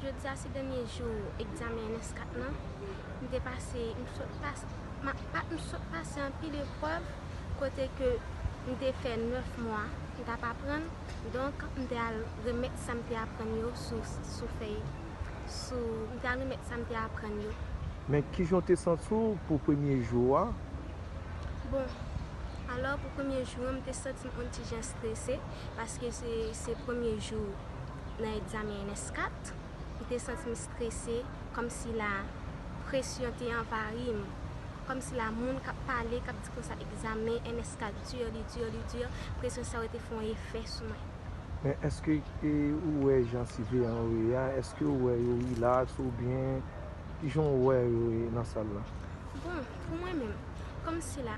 Jodi a se dènye jou egzamen ns 4 lan, m te pase, m sot pase, m sot pase anpil eprèv kote ke m te fè 9 mwa m t ap aprann, donk m te al remèt sa m te aprann yo sou fèy, sou, m te al remèt sa m te aprann yo. Men kijan w te santi w pou premye jou a? Bon, alò pou premye jou an m te santi m on ti jan strese. paske se premye jou nan egzamen ns 4, m te santi m strese kòmsi la presyon te anvayi m, kòmsi la moun k ap pale, k ap di konsa egzamen ns 4 dur, li dur, li dur, presyon sa yo te fè yon efè sou mwen. Men èske ou wè jan siveyan yo ye a, èske ou wè yo rilaks oubyen kijan ou wè yo ye nan sal la? Bon, pou mwen menm, kòmsi la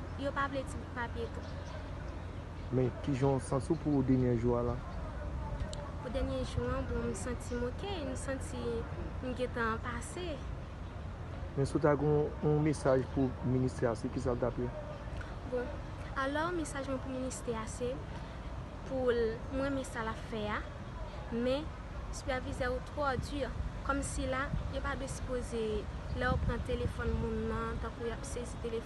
Yo pa vle ti papye tou. Men kijan w santi w pou dènye jou a la? Pou dènye jou an, bon m santi m ok, m santi m gentan pase. Men si w ta gen yon mesaj pou ministè a se kisa l t ap ye? Bon, alò mesaj mwen pou ministè a se pou l, m renmen sa l ap fè a, men sipèvizè yo twò di, kòmsi la yo pa dwe sipoze lè yo pran telefòn moun nan tankou y ap sezi telefòn.